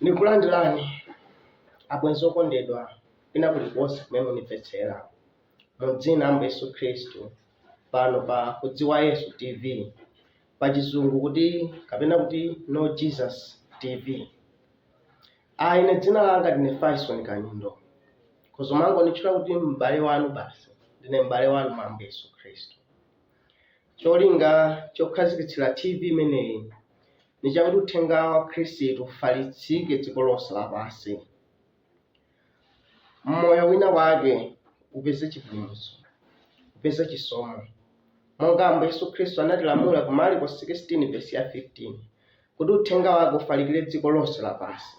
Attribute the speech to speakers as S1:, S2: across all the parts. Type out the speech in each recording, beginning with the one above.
S1: Nikulandilani abwenzi okondedwa kwina kulikonse kumene munimvetsela. Mu dzina la Ambuye Yesu Khristu, pano pa Kudziwa Yesu TV, pa Chizungu kuti kapena kuti Know Jesus TV. Ah, ine dzina langa ndine Faison Kalindo, khoza kumangonitchula kuti m'bale wanu basi. Ndine m'bale wanu mwa Ambuye Yesu Khristu. Cholinga chokhazikitsira TV imeneyi ndi chakuti uthenga wa Khristu ufalitsike dziko lonse lapansi, moyo wina wake upeze chipulumutso, upeze chisomo, monga Ambuye Yesu Khristu anatilamula ku Marko 16 vesi ya 15 kuti uthenga wake ufalikire dziko lonse lapansi.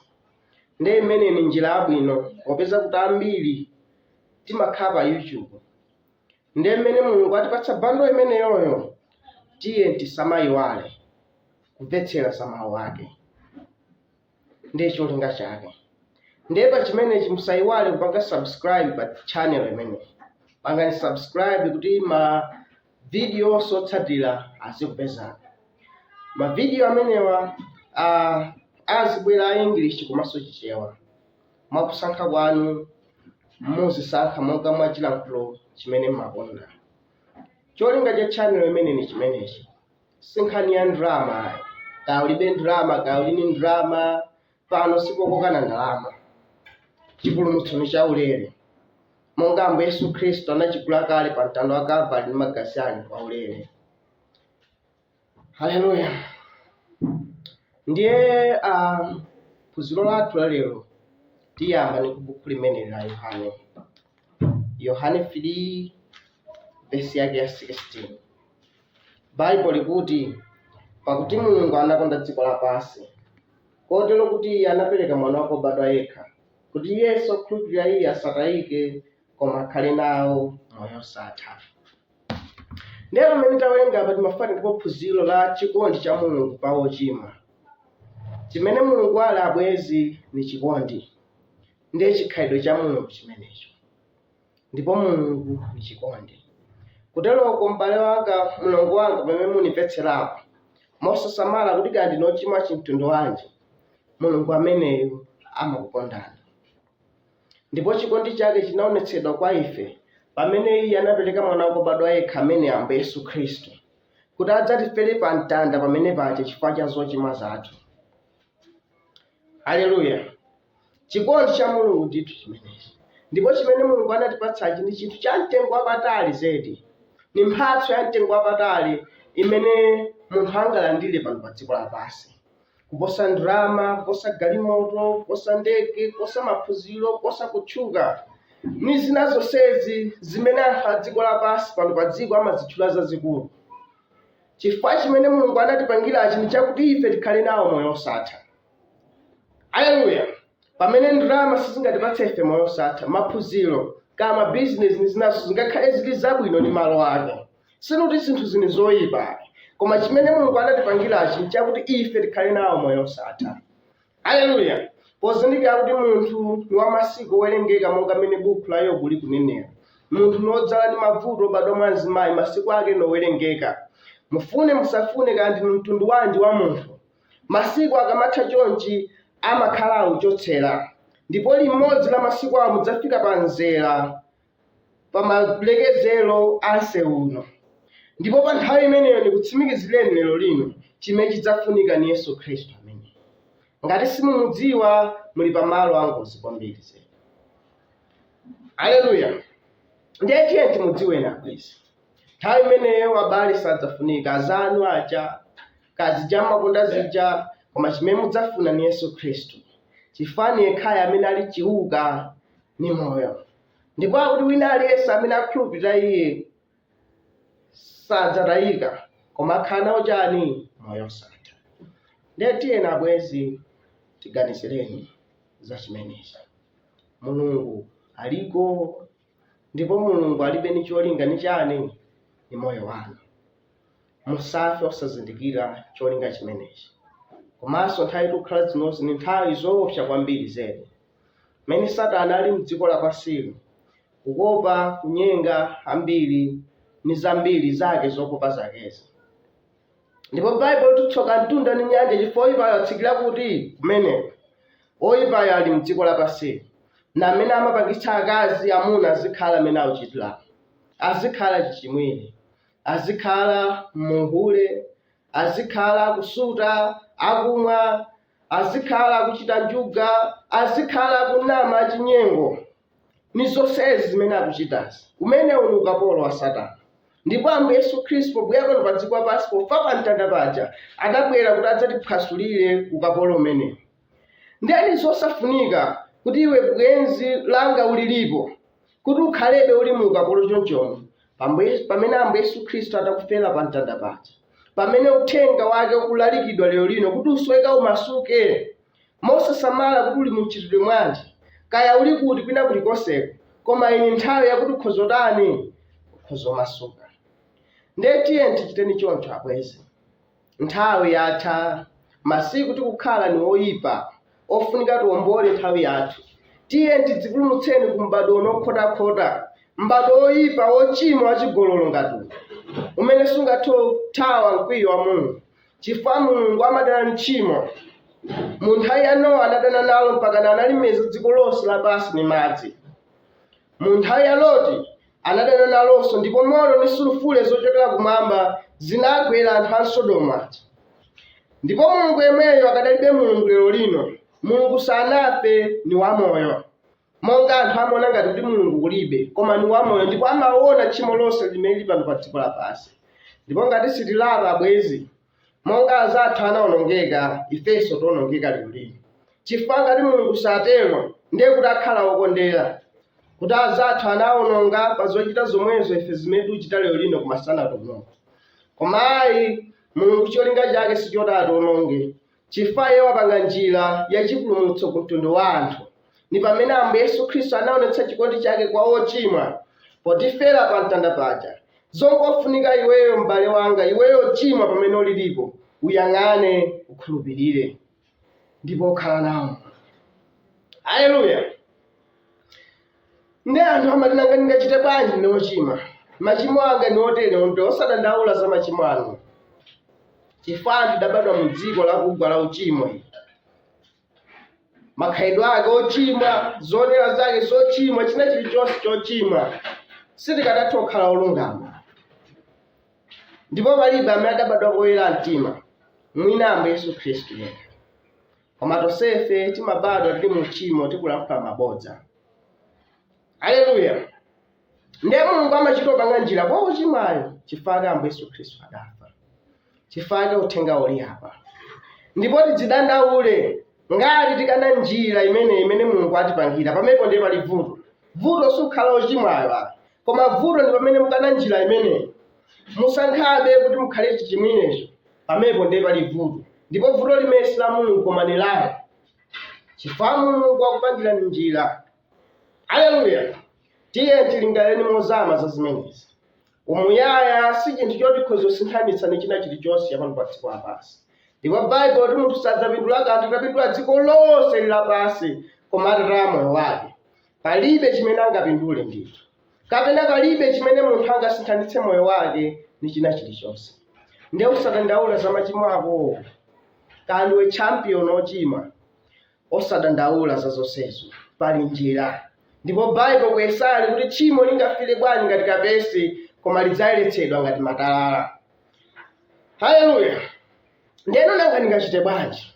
S1: Ndiye imeneyi ni njira yabwino popeza kuti ambiri timakhala pa YouTube Ndiye mmene Mulungu watipatsa bundle imeneyoyo, tiye tisamaiwale kumvetsera za mawu ake. Ndiye cholinga chake. Ndiye pa chimenechi musaiwale kupanga subscribe pa channel imeneyi. Pangani subscribe kuti ma video onse otsatira azikupezani. Ma video amenewa ah, azibwera a English komanso Chichewa. Mwa kusankha kwanu, muzisankha monga mwa chilankhulo chimene mmakonda. Cholinga cha channel imene ni chimenechi. Si nkhani ya ndalama. Kaya ulibe ndalama, kaya uli ni ndalama, pano sipokoka ndalama. Chipulumutso ni chaulere. Monga Ambuye Yesu Khristu anachigula kale pa mtanda wa Kalvari ndi magazi ake kwaulere. Haleluya! Ndiye a phunziro lathu la lero tiyamba ni kubuku limeneli la Yohane, Yohane 3 vesi yake ya 16. Baibulo likuti, pakuti Mulungu anakonda dziko lapansi kotero kuti iye anapereka mwana wake wobadwa yekha, kuti yense okhulupirira iye asatayike, koma akhale nawo moyo wosatha. Ndiye pamene tawerenga apa timafuna tipeze phunziro la chikondi cha Mulungu pa ochimwa. Chimene Mulungu ali abwezi ni chikondi. Ndiye chikhalidwe cha Mulungu chimenecho. Ndipo Mulungu ni chikondi. Kuteroko m'bale wanga, mlongo wanga pamene munimvetserapo, mosasamala kuti kaya ndinu ochimwa chimtundu wanji, Mulungu ameneyo amakukondani. Ndipo chikondi chake chinaonetsedwa kwa ife pamene Iye anapereka Mwana wake obadwa yekha amene ndi Ambuye Yesu Khristu, kuti adzatifere pa mtanda pamene paja chifukwa cha zochimwa zathu. Aleluya! Chikondi cha Mulungu ndithu chimenechi, ndipo chimene Mulungu anatipatsachi ndi chinthu cha mtengo wapatali zedi, ndi mphatso ya mtengo wapatali imene munthu angalandire pano pa dziko lapansi. kuposa ndalama kuposa galimoto kuposa ndege kuposa maphunziro kuposa kutchuka ndi zina zonsezi zimene anthu a dziko lapansi pano pa dziko amazitchula zazikulu chifukwa chimene mulungu anatipangirachi ndi chakuti ife tikhale nawo moyo osatha aleluya pamene ndalama sizingatipatse ife moyo osatha maphunziro kaya mabizinesi ndi zinazo zingakhale zili zabwino ndi malo ake Sikuti zinthu zili zoipa ayi, koma chimene Mulungu anatipangirachi n'chakuti ife tikhale nawo moyo wosatha. Aleluya! Pozindikira kuti munthu ni wa masiku owerengeka monga mmene buku la Yobu likunenera, munthu ni wodzala ndi mavuto obadwa mwa mzimayi, masiku ake ni owerengeka. Mufune musafune, kaya ndinu mtundu wanji wa munthu, masiku akamatha chonchi amakhala akuchotsera, ndipo limodzi la masiku awo mudzafika pa mzera pa malekezero a msewu uno. Ndipo pa nthawi imeneyo ndikutsimikizireni lero lino chimene chidzafunika ni Yesu Khristu amene. Ngati simumudziwa muli pa malo angozi kwambiri zedi. Aleluya. Ndiye tiye timudziweni abwezi. Nthawi imeneyo abale sadzafunika azanu aja kaya zija mmakonda zija koma chimene mudzafuna ni Yesu Khristu. Chifukwa ni yekhayo amene ali chiuka ni moyo ndipo akuti wina aliyense amene akhulupirira iye sadzatayika koma akhala nawo chani moyo osatha ndiye tiyeni abwezi tiganizireni za chimenechi mulungu aliko ndipo mulungu alibe ni cholinga ni chani ni moyo wanu musafe osazindikira cholinga chimenechi komanso nthawi tikukhala zinozi ni nthawi zoopsa kwambiri zedi mmene Satana ali m'dziko lapansi'li, kukopa, kunyenga ambiri ndi zambiri zake zokopa zake'zi. Ndipo Baibulo likuti tsoka mtunda ndi nyanja chifukwa woipayo atsikira kuti? Kumeneko. Woipayo ali m'dziko lapansi'li. Ni amene amapangitsa akazi, amuna azikhala m'mene akuchitira'mu. Azikhala achichimwire. Azikhala mu uhule. Azikhala akusuta, akumwa, azikhala akuchita njuga, azikhala akunama achinyengo, ni zonsezi zimene akuchitazi. Umenewu ni ukapolo wa Satana. Ndipo Ambuye Yesu Khristu pobwera pano pa dziko lapansi pofa pa mtanda paja adabwera kuti adzatiphwasulire ukapolo umenewu. Ndiye ni zosafunika kuti iwe bwenzi langa ulilipo kuti ukhalebe uli mu ukapolo chonchomo pamene ambuye yesu khristu adakufera pa mtanda paja pamene uthenga wake ukulalikidwa lero lino kuti usweka umasuke mosasamala kuti uli mumchitidwe mwanji kaya uli kuti kwina kulikonseko koma ino ni nthawi yakuti ukhoza kutani ukhoza kumasuka ndiye tiyeni tichiteni choncho abwezi Nthawi yatha, masiku tikukhala ni oipa. Ofunika tiwombole nthawi yathu. Tiyeni tidzipulumutseni ku m'badwo uno wokhotakhota, m'badwo woipa, wocimwa, wacigololo ngati uno, umene sungathe kuthawa mkwiyo wa Mulungu, cifukwa Mulungu amadana ni chimo. Mu nthawi ya Nowa anadana nalo mpakana analimeza dziko lonse lapansi ni madzi. Mu nthawi ya Loti Anadana nalonso, ndipo moto ndi sulufule zochokera kumwamba zinagwera anthu a m'Sodomu aja. Ndipo Mulungu yemweyo akadalibe Mulungu lero lino. Mulungu sanafe, ni wamoyo. Monga anthu amaona ngati kuti Mulungu kulibe, koma ni wamoyo ndipo amaona tchimo lonse limene lili pano pa dziko lapansi. Ndipo ngati sitilapa abwenzi, Monga anzathu anawonongeka, ifenso tiwonongeka lero lino. Chifukwa ngati Mulungu satero, ndiye kuti akhala wokondera, kuti anzathu anawononga pa zochita zomwezo ife zimene tikuchita lero lino koma sanatiwononge. Koma ayi, Mulungu cholinga chake sichoti atiwononge, Chifukwa iye wapanga njira ya chipulumutso ku mtundu wa anthu, ni pamene Ambuye Yesu Khristu anaonetsa chikondi chake kwa wochimwa, potifera pa mtanda paja. Zongofunika iweyo m'bale wanga, iweyo ochimwa pamene ulilipo, uyang'ane, ukhulupirire, ndipo ukhala nawo. Haleluya! Nde anthu amati nanga ndingachite bwanji ndine ochimwa? Machimo anga ni otere osadandaula za machimo anu. Chifukwa anthu tidabadwa mu dziko lakugwa la uchimo ili. Makhalidwe ake ochimwa, zoonera zake zochimwa, china chilichonse chochimwa. Sitikadatha kukhala olungama. Ndipo palibe amene adabadwa koyera mtima. Mwina Ambuye Yesu Khristu yekha. koma tonsefe timabadwa tili mu uchimo tikulankhula mabodza aleluya ndiye mulungu amachita kupanga njira kwa wochimwayo chifukwa ambuye yesu khristu adafa chifukwa uthenga uli apa ndipo tidzidandaule ngati tikana njira imene imene mulungu atipangira pamenepo ndiye pali vuto vuto si ukhala wochimwayo a koma vuto ndi pamene mukana njira imeneyi musankhabe kuti mukhale chichimwirecho pamenepo ndiye pali vuto ndipo vuto limeneli si la mulungu koma ni lanu chifukwa mulungu wakupangirani njira aleluya tiye tilingalireni mozama za zimenezi umuyaya si chinthu choti nkhozosinthanitsa ni china chilichonse chapano pa dziko lapansi ndipo baibulo likuti munthu sadzapindula kanthu akapindula dziko lonse ili lapansi koma atataya moyo wake palibe chimene angapindule ndithu kapena palibe chimene munthu angasinthanitse moyo wake ndi china chilichonse nde usadandaula za machimo akowo kaya ndiwe champion ochimwa osadandaula za zonsezo pali njira ndipo baibo ku yesaya likuti tchimo lingafiire bwanji ngati kapezi koma lidzayeretsedwa ngati matalala haleluya ndeno nanga ndingachite bwanji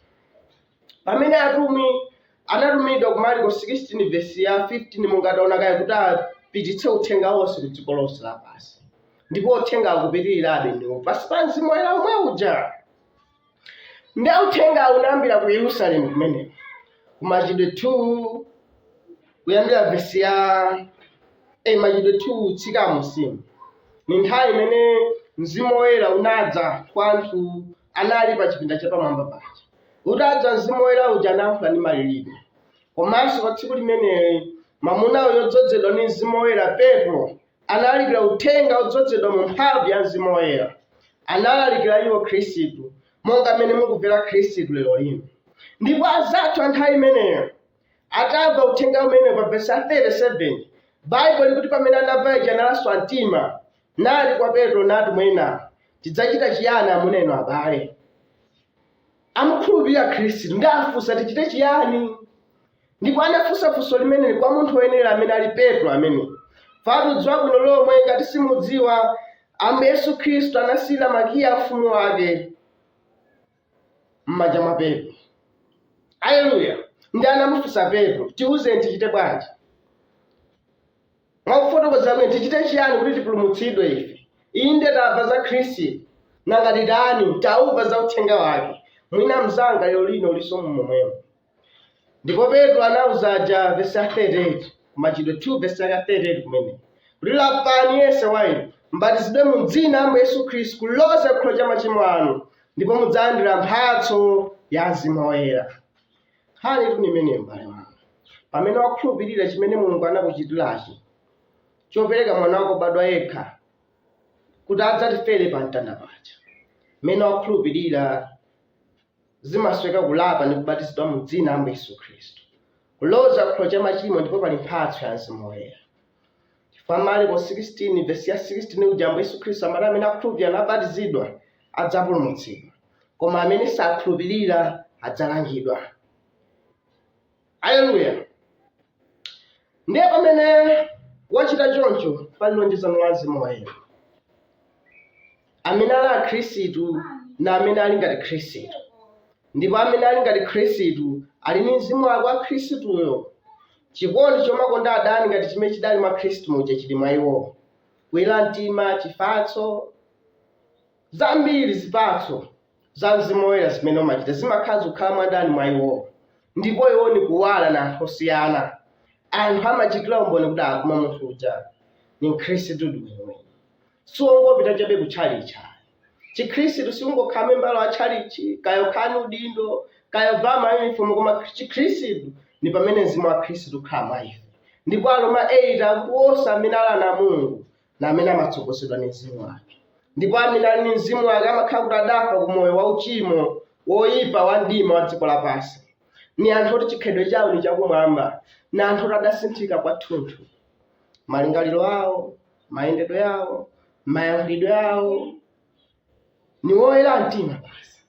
S1: Pamene atumwi anatumidwa ku Marko 16 vesi ya 15 monga taona kale kuti apititse uthenga wonse ku dziko lonse lapansi ndipo uthenga ukupitirirabe ndiwo pansi pa mzimu woyera omwe uja nde uthenga unayambira ku yerusalemu kumeneko ku machitidwe 2 kuyambira vesi ya eh, machitidwe 2 kutsika m'munsimu ni nthawi imene mzimu woyera unadza kwa anthu anali pa chipinda chapamwamba paja utadza mzimu woyera uja anayankhula ndi malilime komanso pa tsiku limeneli mwamuna uyo odzodzedwa ndi mzimu woyera petro analalikira uthenga odzodzedwa mu mphamvu ya mzimu woyera analalikira iwo khristu monga mmene mukumvera khristu lero lino ndipo azathu a nthawi imeneyo atamva uthenga umene pa vesi 37 baibulo likuti pamene anamva ija analaswa mtima Nati kwa Petro ndi atumwi ena, Tidzachita chiyani amuna inu abale? Amukhulupirira Khristu, ndi afunsa, Tichite chiyani? Ndipo anafunsa funso limeneli kwa munthu woyenera amene ali Petro ameneyu. Chifukwatu dziwa bwino lomwe ngati simudziwa, Ambuye Yesu Khristu anasiyira makiyi a ufumu wake. m'manja mwa Petro. Aleluya! Ndiye anamufunsa Petro, tiwuzeni tichite bwanji? Mwakufotokoza kwina tichite chiyani kuti tipulumutsidwe ife? Inde tamva za Khristu, nanga titani? Tamva za uthenga wake. Mwina mnzanga lero lino ulinso mu momwemo. ndipo petro anauza aja vesi ya 38 kumachitidwe 2 vesi ya 38 kumene kuti lapani yense wa inu mbatizidwe mu dzina la ambuye yesu khristu kuloza ku chikhululukiro cha machimo anu ndipo mudzalandira mphatso ya mzimu woyera nkhanitu ndi imeneyi m'bale wanga pamene wakhulupirira chimene mulungu anakuchitirachi chopereka mwana wake obadwa yekha kuti adzatifere pa mtanda paja mmene wakhulupirira Zimasoweka kulapa ndi kubatizidwa mu dzina la Ambuye Yesu Khristu, kuloza ku chikhululukiro cha machimo ndipo pali mphatso ya Mzimu Woyera. Chifukwa Marko 16 vesi ya 16 uja Ambuye Yesu Khristu amati amene akhulupirira nabatizidwa adzapulumutsidwa, koma amene sakhulupirira adzalangidwa. Aleluya! Ndiye pamene wachita choncho, pali lonjezano la Mzimu Woyera amene ali a Khristu na amene ali ngati Khristu, ndipo amene ali ngati Khristu ali ni mzimu wake wa Khristuyo. Chikondi chomakonda adani ngati chimene chidali mwa Khristu muja chili mwa iwo, kuyera mtima, chifatso, zambiri zipatso za mzimu woyera zimene umachita zimakhala zikukhala mwadani mwa iwowo ndipo iwo ni kuwala na anthu osiyana anthu amachitira umboni kuti akuma munthu uja ni mkhristu diweniweni siungopita chabe kutchalichi chikhristu siungokhala membala wa tchalichi kaya kukhala ni udindo kaya kuvala mayunifomu koma chikhristu ni pamene mzimu wa khristu ukhala mwa ife ndipo Aroma 8 akuposa amene ali ana a mulungu na amene amatsogozedwa ni mzimu wake ndipo amene ali ni mzimu wake amakhala kuti adafa ku moyo wa uchimo woyipa wa mdima wa dziko lapansi ni anthu oti chikhalidwe chawo ni chakumwamba ni anthu oti adasinthika kwathunthu malingaliro awo mayendedwe awo mayankhulidwe awo ni woyera mtima basi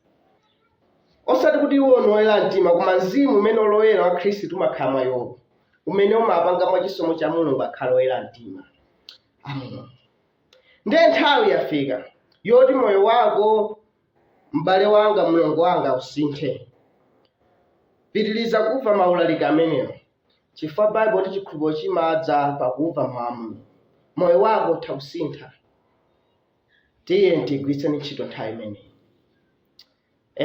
S1: osati kuti iwo ni woyera mtima koma mzimu umene oloyera wa khristu umakhala mwa iwowo umene umapanga mwa chisomo cha mulungu akhale oyera mtima a mulungu ndiye nthawi yafika yoti moyo wako m'bale wanga mlongo wanga usinthe pitiriza kumva maulaliki amenewo chifukwa baibulo ikuti chikhulupiriro chimadza pakumva mawu a mulungu moyo wako utha kusintha tiyeni tigwiritse ntchito nthawi imeneyi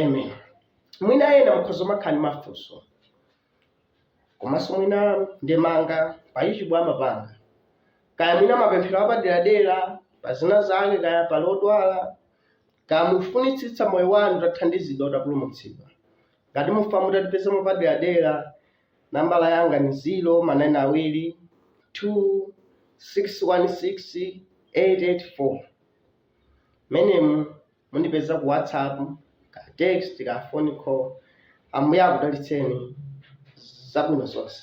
S1: amen mwina ena mukhoza kumakhala ndi mafunso komanso mwina ndemanga pa ichi bwama panga kaya mwina mapemphero apaderadera pa zina zake kaya pali odwala kaya mufunitsitsa moyo wanu utathandizidwa utapulumutsidwa ngati mufuna mutatipeza mupaderadera Nambala yanga ni 0 ma 9 awili 2 616 884 mmenemu mundipeza ku whatsapp ka text ka phone call ambuye akudalitseni zabwino zonse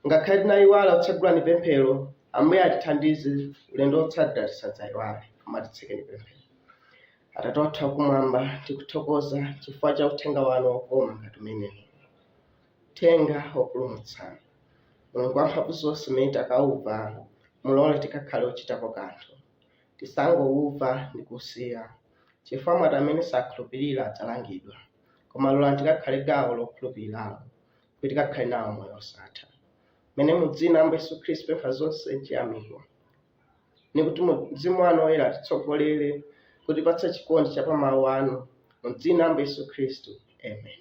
S1: ngakhale tinayiwala kutsegula ni pemphero ambuye atithandize ulendo wotsatira tisadzayiwale koma titseke ni pemphero atate wathu akumwamba tikuthokoza chifukwa cha uthenga wanu wokoma ngati umenewu Uthenga wopulumutsa. Mulungu wamphamvu zonse umene takauva, mulole tikakhale ochitapo kanthu. Tisangouva ndi kuusiya, chifukwa mwati amene sakhulupirira adzalangidwa. Koma lolani tikakhale gawo lokhulupiriralo, kuti tikakhale nawo moyo wosatha. Mmene mu dzina la Ambuye Yesu Khristu tipempha zonse nchiyamiko. ni kuti mu- mzimu wanu woyera atitsogolere kutipatsa chikondi cha pa mawu anu mu dzina la Ambuye yesu khristu amen